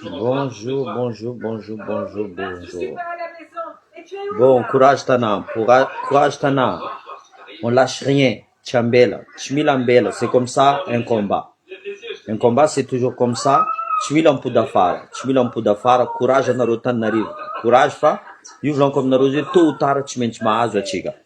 Bonjour, bonjour, bonjour, bonjour, bonjour. Bon courage Tana, courage Tana. On lâche rien, tsy ambela, tsy mila ambela, c'est comme ça un combat. Un combat c'est toujours comme ça, tsy mila mipody afara, tsy mila mipody afara, courage anareo Tananarive. Courage fa io volaniko aminareo io tôt ou tard tsy maintsy mahazo atsika.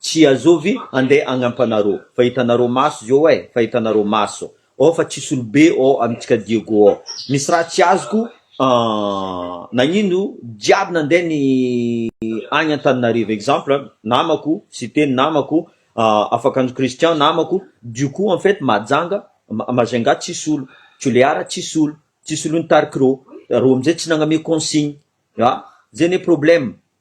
Tsy azovy ande agnampanareo fa hitanareo maso zô eh fa hitanareo maso oh fa tsisy olobe oh amintsika Diego oh misy raha tsy azoko ahh nagnino jiaby nande ny agny Antananarivo exemple namako Siteny namako ahh Afakanjo Christian namako du coup en fait Majanga Majunga tsisy olo Tulear tsisy olo tsisy olo nitarikireo reo amizay tsy nagname consigne ah zay ne problème.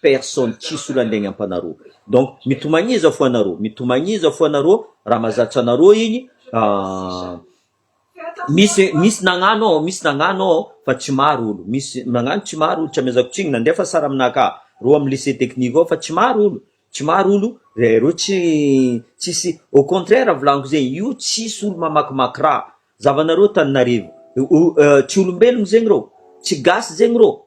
personne tsisy olona andeha agnampanareo donc mitomagniza fo anareo mitomagniza fo anareo raha mazatra anareo igny misy misy nagnano ao misy nagnano ao fa tsy maro olo misy nagnano tsy maro olo tsy amezako tsigny nandefa sara aminah ka reo amy lycée technique ao fa tsy maro olo tsy maro olo de reo tsy tsisy au contraire volagniko zay io tsisy olo mamakimaky raha zavanareo taninarivo tsy olombelogno zegny reo tsy gasy zegny reo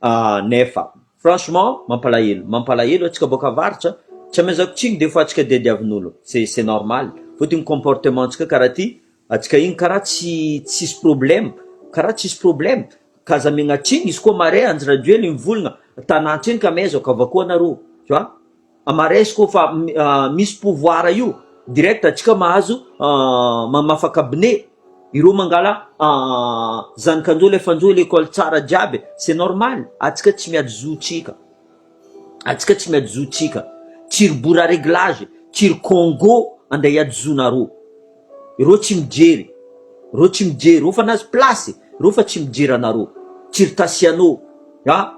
Ahh nefa. Franchement mampalahelo mampalahelo atsika boaka avarotra tsy amezako tsiny de efa tsika diadiavinolo c'est c'est normal fôty igny comportement tsika kara ty atsika igny kara tsy tsisy problème kara tsisy problème ka aza amegna tsiny izy koa mare andry rajoely mivolagna tanantsika amezako avakô anarô tu vois Maresiko fa misy pouvoir io direct antsika mahazo mamafa cabinet ireo mangala zanakanjo le fanjo le école tsara jiaby e c'est normal atsika tsy miady zo tsika atsika tsy miady zo tsika tsy ry bora reglage tsy ry congo ande hiady zo nareo Ireo tsy mijery, ireo tsy mijery, ireo fanazy place, ireo fa tsy mijery anareo, circassiano a,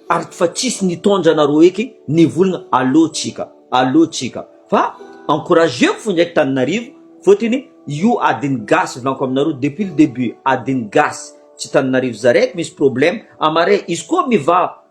ary fa tsisy nitondra anareo eky nivolagna aleo tsika, aleo tsika, fa encourageko fo ndraiky taninarivo fotony io adiny gasy volako aminareo depuis le debut adiny gasy tsy taninarivo za raiky misy problème amare izy koa mivaha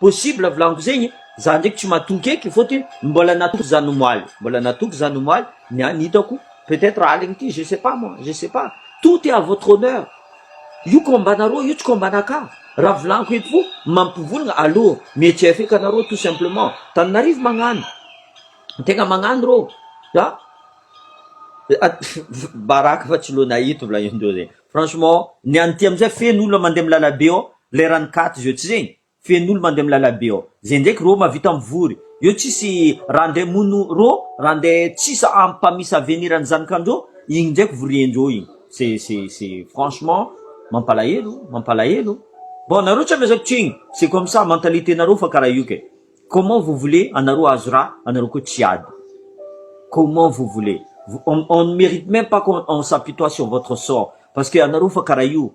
Possible volagniky zegny, za ndraiky tsy matoky eky fôtony mbola natoky zan omaly, mbola natoky zan omaly, niany hitako peut etre aligny ty je sais pas moi, je sais pas, tout est à votre honneur, io combat nareo io tsy combat anakah, ra volagniko eto fô mampivolagna allo mietseha feky anareo tout simplement, Tananarive magnano, tegna magnano rô a, baraka fa tsy lo nahita volagnindreo zegny, franchement ny any ty amizay feno olona mande milala be ao, Leran'ny katy zio tsy zegny? Fen'olo mande milala be ao. Zay ndraiky rô mavita mivory. Eo tsisy raha nde mono rô raha nde tsis ampamisa avenir ny zanakandrô igny ndraiky voriendrô igny. C'est c'est c'est franchement mampalahelo mampalahelo. Bon nareo tsy amezako tsigny c'est comme ça mentalité nareo fa kara io kay. Comment vous voulez anareo ahazo raha anareo koa tsy ady. Comment vous voulez. On on ne merite même pas qu'on on s'apitoie sur votre sort parce que anareo fa kara io.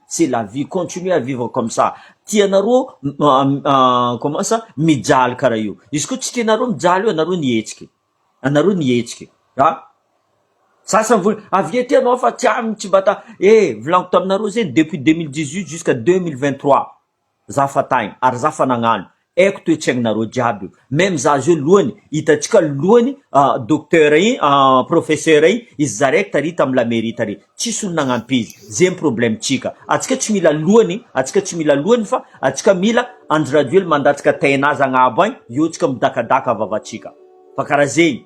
C'est la vie continuez à vivre comme ça tianareo comment ça mijaly karaha io izy koa tsy tianareo mijaly io anareo ny hihetsika e anareo ny hihetsika e a za samy vola avy ety ianao fa tsy amiko tsy mba ta eh volaniko taminareo zegny depuis deux mille dix huit jusqu'à deux mille vingt trois Za fa tagny ary za fa nagnano aiko toetsaigninareo jiaby io meme za zio lohany hitantsika lohany docteur igny professeur igny izy zaraiko tary tam la mairie tary tsisy olo nagnampy izy ze ny problème tsika atsika tsy mila lohany atsika tsy mila lohany fa atsika mila Andry Rajoely mandatsaka tain'azy agnabo agny eo tsika midakadaka vavatsika fa kara zegny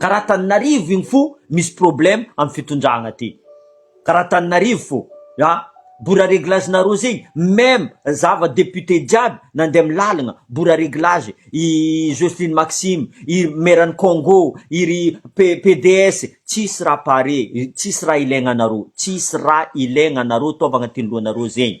Karaha taninarivo igny fo misy problème am fitondragna ty karaha taninarivo fo a bora reglage nareo zegny meme zava député jiaby nande am lalagna bora reglage i Jocelyne Maxime i meran Congo i ry PDS tsisy raha pare tsisy raha ilaigna anareo tsisy raha ilaigna anareo ataovagna tiany lohanareo zegny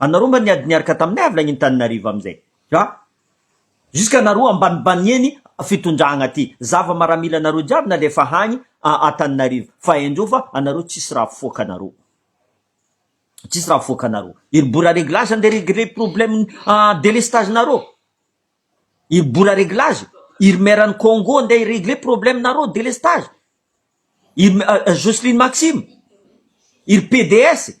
Anareo mba niady niaraka taminay avy nagn'Intaninarivo amizay a! Jusqu'à nareo ambanimbaniany fitondragna ty zava maramila nareo jiaby nalefa hagny a Antaninarivo fa haiandreo fa anareo tsisy raha afoaka anareo tsisy raha afoaka anareo iry bora reglage ande regler problème a delestage nareo iry bora reglage iry maire any Congo ande i regler problème nareo delestage iry Joseline Maxime iry PDS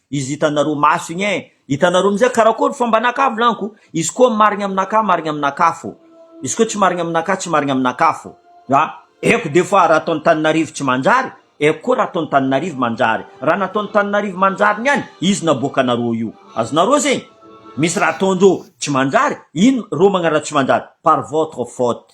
Izy hitanareo maso igny eh! Hitanareo amizay karakory fa mba naka vlanko, izy koa marigny aminaka marigny aminaka fô, izy koa tsy marigny aminaka tsy marigny aminaka fô, a! Eko de fa raha ataony taninarivo tsy manjary, eko koa raha ataony taninarivo manjary, raha nataony taninarivo manjary niany izy naboakanareo io, azonareo zegny? Misy raha ataondreo tsy manjary, ino reo magnano raha tsy manjary? Par votre faute.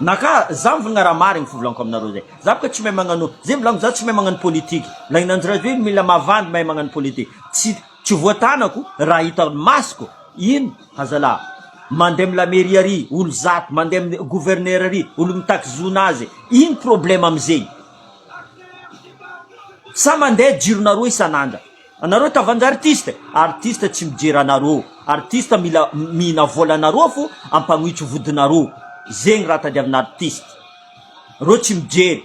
Naka za mivonona ra marigny fivolanko aminareo zay za boka tsy mahay magnano zay mivolanko za tsy mahay magnano politique la inanjy rajoely mila mavandy mahay magnano politique tsy tsy voatanako raha hita masoko ino hazalaha mandeha am la mairie ary olo zato mandeha am gouverneur ary olo mitaky zona azy ino problème amizegny sa mandeha jironareo isan'andra Anareo tavanja artiste e! Artiste tsy mijery anareo, artiste mila mihina volanareo fo ampanoitso vodinareo, zegny raha tadiavina artiste reo tsy mijery,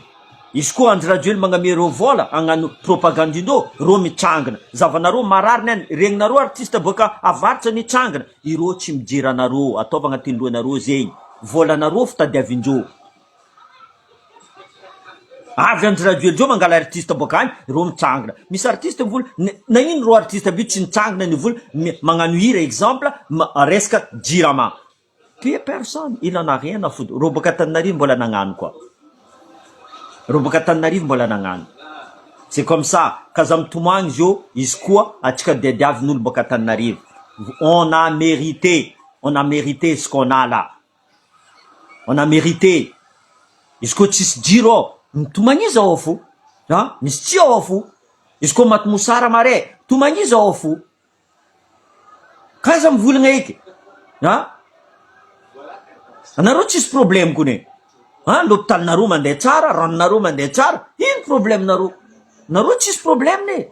izy koa andry rajoely magname reo vola hagnano propagande indreo reo mitsangana, zavanareo marary ny any regnonareo artiste boaka avaratra nitsangana ireo tsy mijery anareo, ataovy agnatin'ny lohanareo zegny, volanareo fo tadiavindreo. Avy any radio ndreo mangala artiste boaka any reo mitsangana misy artiste mivola na ino reo artiste be tsy mitsangana ny vola magnano hira exemple resaka jirama pe personne il en a rien a foutre reo boaka Antananarivo mbola nagnano koa reo boaka Antananarivo mbola nagnano c'est comme ça ka za mitomagny izy eo izy koa atsika diadiavy ny olo boaka Antananarivo on a merite on a merite ce qu'on a là On a merite izy koa tsisy jiro ao to magniza ao fo an misy tsy ao fo izy koa maty mosara mare to magniza ao fo kaiza mivolagna eky an anareo tsisy probleme kone an lopitalinareo mandeha tsara ranonareo mandeha tsara ino probleme nareo nareo tsisy probleme e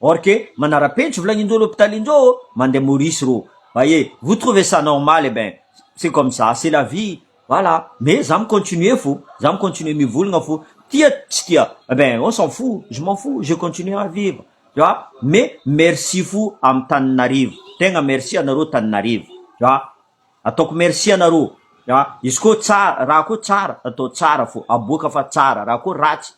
Or que manarapenitry volagnindreo lopitalinreo ô mandeha Maurice rô baie vous trouvez ça normal eh ben c'est comme ça c'est la vie voilà mais za mi continuer fô za mi continuer mivolagna fô tia tsy tia eh ben on s'en fou je m'en fou je continuer à vivre tu vois mais merci fo am Taninarivo tegna merci anareo Taninarivo tu vois ataoko merci anareo tu vois izy koa tsara raha koa tsara atao tsara fô aboaka fa tsara raha koa ratsy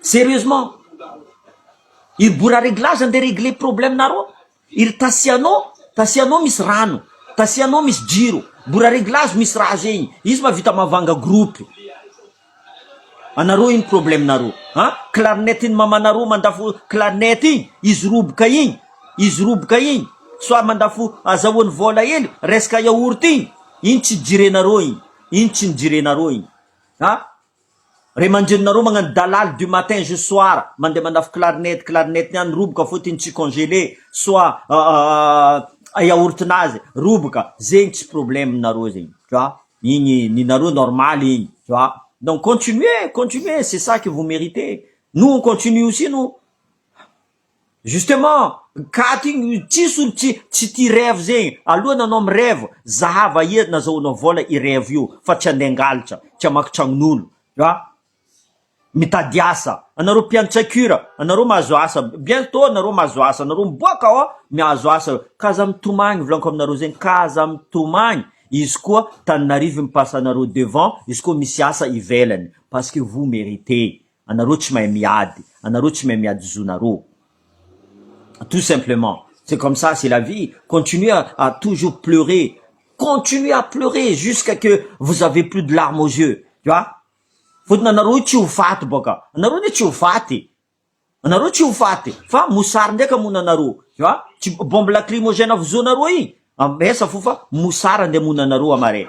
Serieusement! Iry bora reglage andeha regler problème nareo, iry tasiano, tasiano misy rano, tasiano misy jiro, bora reglage misy raha zegny, izy ma vita mavanga groupe, anareo ino problème nareo an! Clarinette ny mamanareo mandafo clarinette igny, izy roboka igny, izy roboka igny soit mandafo azahoany vola hely resaka yaourt igny, ino tsy jirenareo igny, ino tsy ny jirenareo igny. A, Ry manjinona roa magnano dalaly du matin jus soir, mandeha mandafo clarinette, clarinette ny any roboka fô tiny tsy congelé, soit a yaourt nazy roboka, zegny tsy problème narô zegny, tu vois, igny ny narô normal igny, tu vois, donc continuer, continuer, c'est ça que vous meritez, nous on continue aussi nous. Justement, gaty igny tsisy olo tsy tsy tia rêve zegny, aloha nanao mi rêve zahava ia nazahoanao vola i rêve io fa tsy andeha angalatra, tsy hamaky tragnon'olo, a mitady asa, anareo mpiantsakura anareo mahazo asa, bientôt anareo mahazo asa, anareo miboaka ao mihazo asa, ka aza mitomagny volaniko aminareo zegny ka aza mitomagny, izy koa Tananarive mipasa anareo devant, izy koa misy asa ivelany, parce que vous meriter. Anareo tsy mahay miady, anareo tsy mahay miady zonareo. Tout simplement. C'est comme ça, c'est la vie. Continuez à, à toujours pleurer. Continuez à pleurer jusqu'à que vous avez plus de larmes aux yeux. Tu vois? Fotony anareo io tsy ho faty boaka. Anareo ne tsy ho faty. Anareo tsy ho faty. Fa mosary ndraiky amona anareo. Tu vois? Tsy bombe lacrymogène avozoanareo iny. Am, esa fo fa mosary ande amona anareo amare.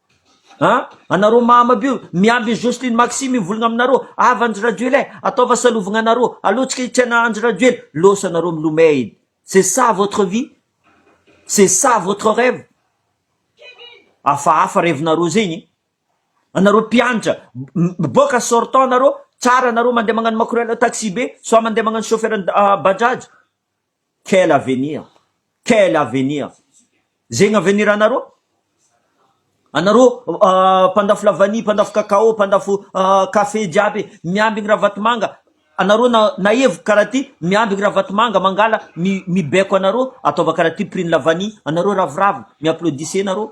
A, anareo mahamab io miamby Jocelyne Maxime mivolgna aminareo avy Andry Rajoel eh ataova salovagna anareo aleo tsika hitrena Andry Rajoel losa anareo milomay edy c'est ça votre vie c'est ça votre reve afahafa revinareo zegny eh anareo mpiantra miboaka sortant anareo tsara anareo mandeha magnano makorela taxi be soit mandeha magnano chauffeur bajaj Quel avenir? Quel avenir? Zegny avenir anareo? Anareo mpandafo lavania, mpandafo cacao, mpandafo café jiaby miambigny Ravatomanga, anareo nahevoka karaha ty miambigny Ravatomanga mangala mibaiko anareo ataova karaha ty prix ny lavania, anareo ravoravo mi-applaudissez nareo.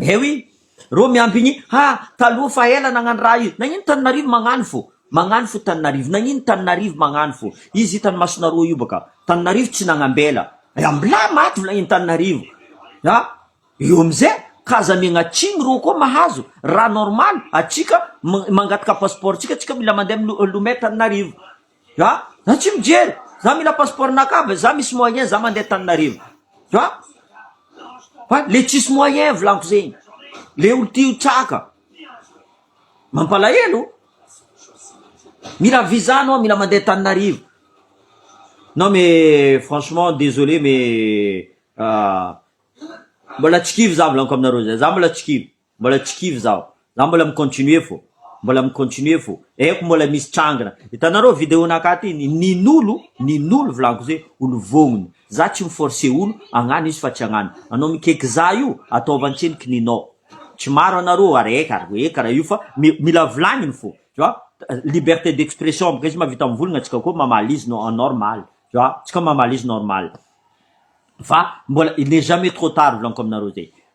Eh oui, reo miampy ny ha taloha fa ela nagnano raha io, nagnino Tananarivo magnano fo, magnano fo Tananarivo, nagnino Tananarivo magnano fo, izy hitany masonareo io baka, Tananarivo tsy nagnambela, ya mla maty vla i Tananarivo, ya eo amze ka aza miagna atsimo reo koa mahazo raha normal, atsika mangataka passeport tsika, tsika mila mande am lomay Tananarivo. Tu vois? Za tsy mijery! Za mila passeport naka be, za misy moyen za mandeha Antananarivo. Tu vois? Fa le tsisy moyen volako zegny. Le olo ty ho traka. Mampalahelo. Mila visa anao, mila mandeha Antananarivo. Non mais franchement désolé mais euh, mbola tsy kivy za volako aminareo zay. Za mbola tsy kivy. Mbola tsy kivy zaho. Zaho mbola mi continuer fô. Mbola mi continuer fô. Haiko mbola misy trangina. Hitanareo video nakà ty ny nin'olo, nin'olo volaniko zay, olo vognona. Za tsy mi forcer olo hagnano izy fa tsy hagnano. Anao mikeky za io, ataova antsena ny kininao. Tsy maro anareo ary eka ary eka raha io fa mi mila volagniny fô. Tu vois? Liberté d'expression bôka izy mahavita mivolagna tsika koa mamaly izy no normal. Tu vois? Tsika mamaly izy normal. Fa mbola il n'est jamais trop tard volaniko aminareo zay.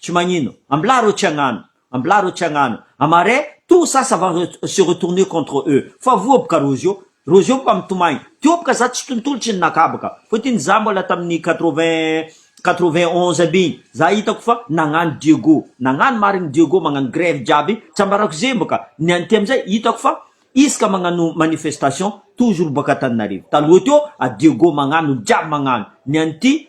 Tsy magnino. Ambilà reo tsy hagnano. Ambilà reo tsy hagnano. Amare, tout ça ça va se retourner contre eux. Fa voa boka Roseau. Roseau boka mitomagny. Teo boka za tsy tontolo tsy ninakà boka. Fotiny za mbola tamin'ny quatre-vingt, quatre-vingt-onze aby igny. Za hitako fa nagnano Diego. Nagnano marigny Diego magnano grève jiaby. Tsambarako zegny boka. Nianty amizay hitako fa isaka magnano manifestation toujours boka Antananarivo. Taloha teo a Diego magnano olo jiaby magnano. Nianty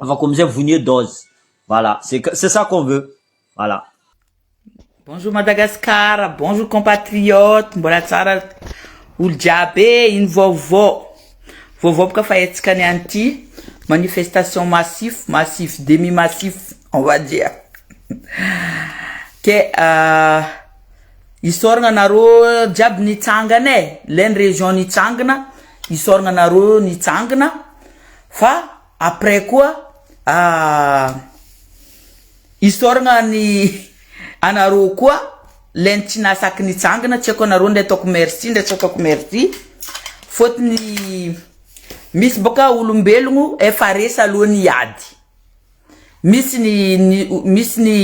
Afaka amizay vonie dose. Voilà, c'est qu- c'est ça qu'on veut. Voilà. Bonjour Madagascar, bonjour compatriotes, mbola tsara olo jiaby e, ino vaovao? Vaovao boka fa hetsika any anty, manifestation massif, massif, demi massif, on va dire. Ke ah, isaoragna anareo jiaby nitsangana e, le ny region nitsangana, isaoragna anareo nitsangana, fa Après koa isaoragna ny anareo koa le ny tsy nahasaky nitsangana tsy aiko anareo ndray ataoko merci ndray tsy ataoko merci fôtony misy bôka olombelogno efa resy aloha ny ady misy ny misy ny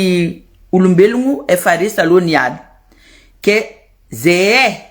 olombelogno efa resy aloha ny ady ke ze.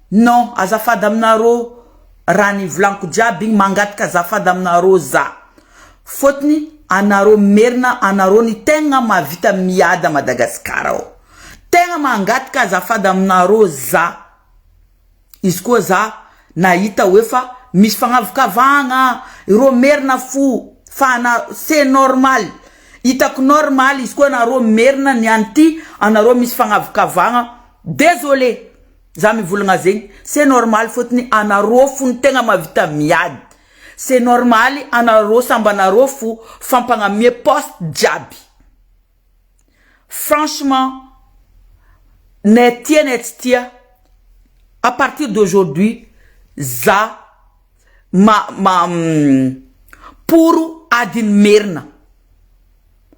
Non azafady aminarô raha ny volaniko jiaby igny mangataka azafady aminarô za fôtony anarô merina anarô ny tegna mahavita miady a Madagascar ao tegna mangataka azafady aminarô za izy koa za nahita hoe fa misy fagnavakavahagna irô merina fo fa ana ce normal itako normal izy koa anarô merina ny any ty anarô misy fagnavakavahagna désolé. Za mivolagna zegny ce normal fotony anarô fo no tegna mavita miady ce normaly anarô samby anarô fo fa mpagnamie poste jiaby franchement ne tia ne tsy tia à partir d'aujourd'hui za ma ma poro adin'ny merina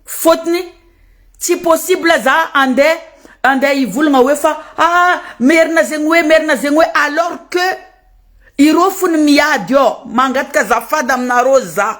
fotony tsy possible za ande ande hivolagna hoe fa aa merina zegny hoe merina zegny hoe alors que ireo fony miady ô mangataka azafady aminareo za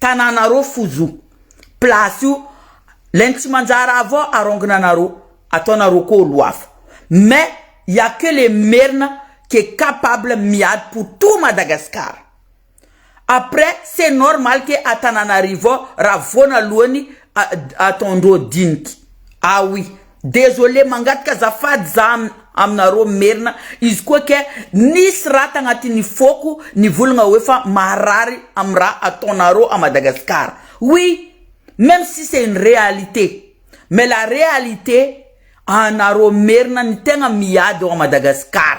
tananareo fo zo place io lain tsy manjara avao arongina anareo ataonareo koa olo hafa mais ya que le merina que capable miady pour tout Madagascar après ce normal que Antananarivo ra voana aloany ataondreo diniky ah oui. Désolé mangataka azafady za aminareo merina izy koa kay nisy raha tagnatin'ny fôko nivolagna oe fa maharary am raha ataonareo à Madagascar oui meme si c'est une réalité mais la réalité anareo merina ny tegna miady ao à Madagascar.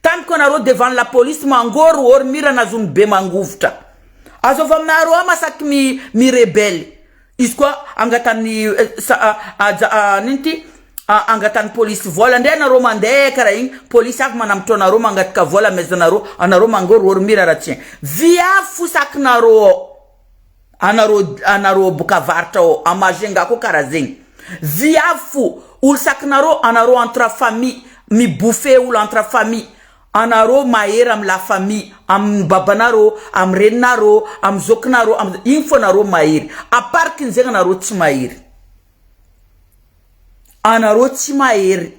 Tany ko anareo devant la police mangoro or mira na zony be mangovitra. Azo avy aminareo ama sac mi mi rebelle. Izy koa angatany sa aja a nino ty a angatany police vola ndre anareo mande kara igny police avy manambotra anareo mangataka vola amezanareo anareo mangoro or mira ra tsy vy avy fo sac nareo ao. Anareo anareo boka varotra ao à Majunga koa kara zegny. Viavy fo olo sakinareo anareo entre famille mi bouffer olo entre famille anareo mahery am la famille am babanareo am reninareo am zokinareo am igny fo anareo mahery à part kin zegny anareo tsy mahery anareo tsy mahery.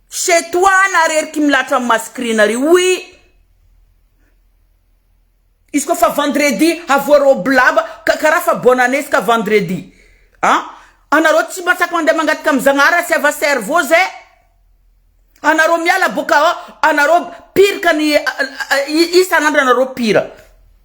C'est toi na rery qui milatra am mascrina ry oui izy ko fa vendredi havoarao blaba ka kara fa bonne année izy ka vendredi a anareo tsy mba tsapa mande mangataka am zagnahary tsy ava cerveau ze anareo miala boka anareo pire ka ny isan'andro anareo pire.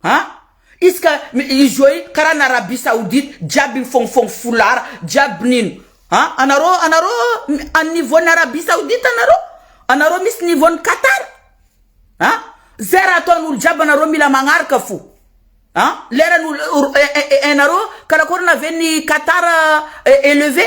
An! Izy ka izy io ai karaha ny Arabie Saoudite jiaby mifognofogno foulard jiaby nino an! Anareo anareo an niveau ny Arabie Saoudite anareo? Anareo misy niveau ny Qatar? An! Zay raha ataon'olo jiaby anareo mila magnaraka fo an! Lerany olo enareo karakorana ve ny Qatar eleve?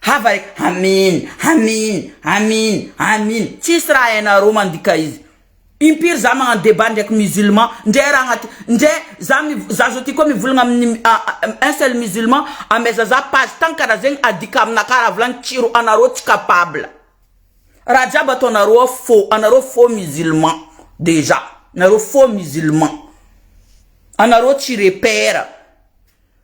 Hafa e, Amin, Amin, Amin, Amin, tsisy raha hainareo mandika izy. Impiry za magnano debat ndraiky musulman, ndray raha agnaty, ndray za za zao ty koa mivolagna amin'ny un seul musulman, ameza za page tagny karaha zegny adika aminakahy raha volagny kiro, anareo tsy capable. Raha jiaby ataonareo ao faux, anareo faux musulman déjà, nareo faux musulman. Anareo tsy repère.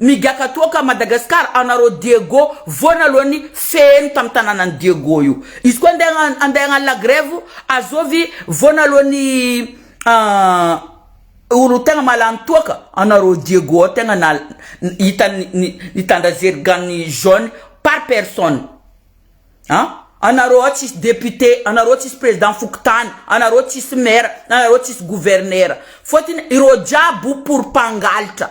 Migaka toaka Madagascar anareo Diego voana aloha ny feheno tam tananany Diego io izy koa andeha andeha agnano la grève azovy voana aloha ny olo tegna mahalany toaka anareo Diego ao tegna na hita nitandra zeriganiny jaune par personne a anareo ao tsisy député anareo tsisy président fokontany anareo tsisy maire anareo tsisy gouverneur fôtony ireo jiaby pour mpangalatra.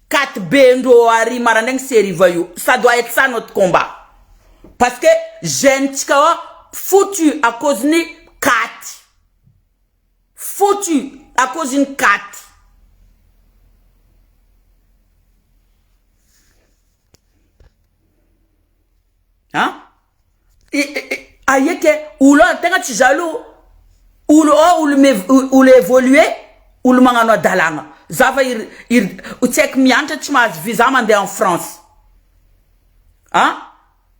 Kat be ndro ary marandraigny seriva io ça doit être ça notre combat parce que jeune tsika ao foutu à cause ny kat foutu à cause ny kat. An Aie ke olo an tegna tsy za aloha olo ao olo me olo evolue olo magnano adalagna za fa ir ir tsy haiko miantra tsy mahazo visa mande en France an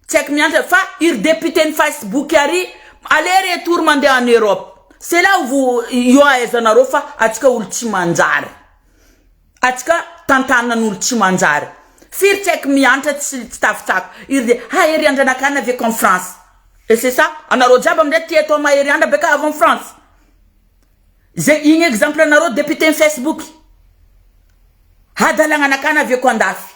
tsy haiko miantra fa ir député ny Facebook ary aller retour mande en Europe c'est là où vous io ahaizanareo fa atsika olo tsy manjary. Atsy ka tantanan olo tsy manjary firy tsy aiko mihantra tsy tsy tafitsako iry de hahery andra nakana ve con france et c'est ça anareo jiaby amzay tia atao mahery andra be ka avy en france ze igny exemple anareo député ny facebook hadalagna nakana ve ko andafy.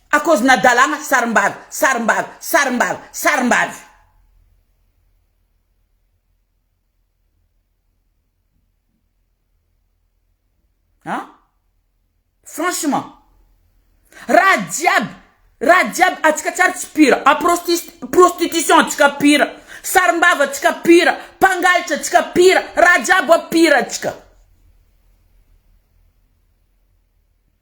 à cause na dalàna sarimbavy sarimbavy sarimbavy sarimbavy. An? Franchement. Raha jiaby raha jiaby antsika tsary tsy pire en prostis prostitution antsika pire sarimbavy antsika pire mpangalitra antsika pire raha jiaby pire antsika.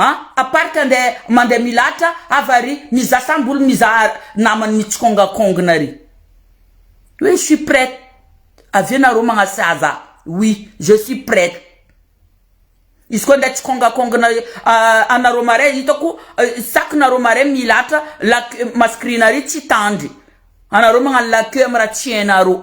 A part ka ndeha mandeha milahatra hafa ary mizaha sambo olo mizaha namany mitsikongakongona ary hoe je suis prête avy eo nareo magnasaza oui je suis prête izy koa ndeha tsikongakongona anareo marais hitako sac nareo marais milahatra la queue masquerie nare tsy tandry anareo magnano la queue amy raha tsy hainareo.